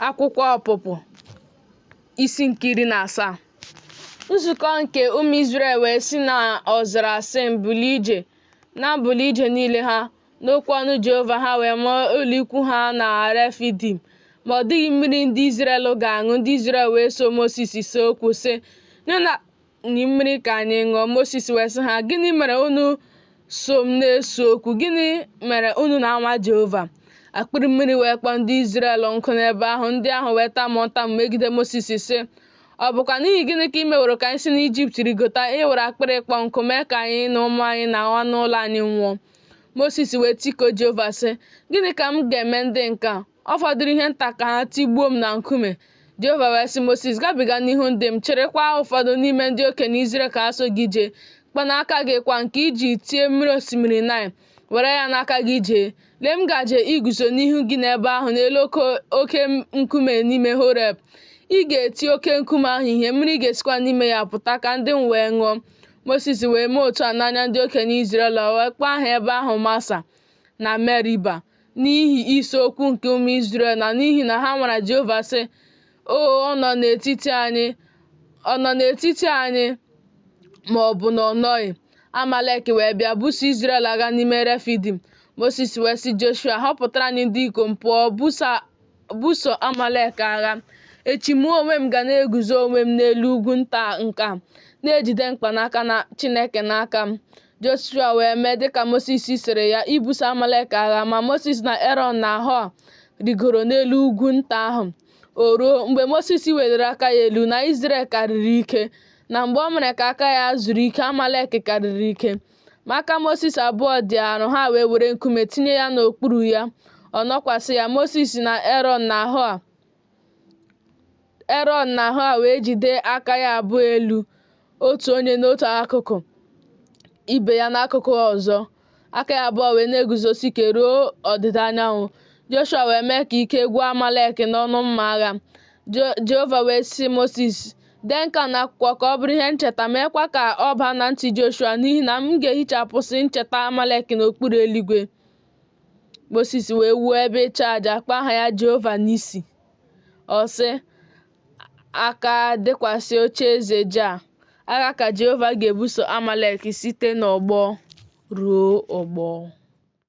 Akwụkwọ Ọpụpụ isi nke iri na asaa nzukọ nke ụmụ Izrel wee si na ọzara Sin buli ije na mbuli ije niile ha n'okwu ọnụ Jehova ha wee ma ụlọ ikwu ha na Refidim ma ọ dịghị mmiri ndị Izrel ga-aṅụ ndị Izrel wee so Mosis see okwu sị nye anyị mmiri ka anyị ṅụọ Mosis wee sị ha gịnị mere unu so m na-ese okwu gịnị mere unu na-anwa Jehova akpịrị mmiri wee kpọọ ndị Izrel nkụ n'ebe ahụ ndị ahụ wee tamu ntamu megide Mosis sị ọ bụkwa n'ihi gịnị ka i meworo ka anyị si n'Ijipt rigota iwere akpịrị ịkpọ nkụ mee ka anyị na ụmụ anyị na anụ ụlọ anyị nwụọ Mosis wee tikuo Jehova sị gịnị ka m ga-eme ndị nke a Ọ fọdụrụ ihe nta ka ha tigbuo m na nkume. Jehova wee sị Mosis, Gabiga n'ihu ndị m, chịrịkwa ụfọdụ n'ime ndị okenye Izrel ka ha so gị jee. Mkpanaka gị kwa nke i ji tie mmiri osimiri Naịl, were ya n'aka gị jee. Lee m gaje iguzo n'ihu gị n'ebe ahụ n'elu oke nkume n'ime Horeb. Ị ga-eti oke nkume ahụ ihe, mmiri ga-esikwa n'ime ya pụta ka ndị m wee ṅụọ. Mosis wee mee otu a n'anya ndị okenye Izrel, wee kpọọ aha ebe ahụ Masa na Meriba. n'ihi ise okwu nke ụmụ Izrel na n'ihi na ha nwara Jehova sị o ọ nọ n'etiti anyị ọ nọ n'etiti anyị ma ọ bụ na ọ nọghị Amalek wee bịa buso Izrel agha n'ime Refidim Mosis wee sị Joshua họpụtara anyị ndị ikom pụọ buso Amalek agha echi mụ onwe m ga na-eguzo onwe m n'elu ugwu nta nke a na-ejide mkpanaka na Chineke n'aka m Joshua wee mee dịka Mosis sịrị ya ibuso Amalek agha, ma Mosis na Erọn na Hua rigoro n'elu ugwu nta ahụ. O ruo, mgbe Mosis weliri aka ya elu, na Izrel karịrị ike, na mgbe o mere ka aka ya zuru ike, Amalek karịrị ike. Ma aka Mosis abụọ dị arọ, ha wee were nkume tinye ya n'okpuru ya, ọ nọkwasị ya, Mosis na Erọn na Hua. Erọn na Hua wee jide aka ya abụọ elu, otu onye n'otu akụkụ, ibe ya n'akụkụ ọzọ, aka ya abụọ wee na-eguzosi ike ruo ọdịda anyanwụ. Joshua wee mee ka ike gwụ Amalek n'ọnụ mma agha. Jehova wee sị Mosis, Dee nke a n'akwụkwọ ka ọ bụrụ ihe ncheta, meekwa ka ọ baa na ntị Joshua, n'ihi na m ga-ehichapụsị ncheta Amalek n'okpuru eluigwe. Mosis wee wuo ebe ịchụ aja kpọọ aha ya Jehova Nisi. Ọ sị, Aka dịkwasị oche eze Jaa, agha ka Jehova ga-ebuso Amalek site n'ọgbọ ruo ọgbọ.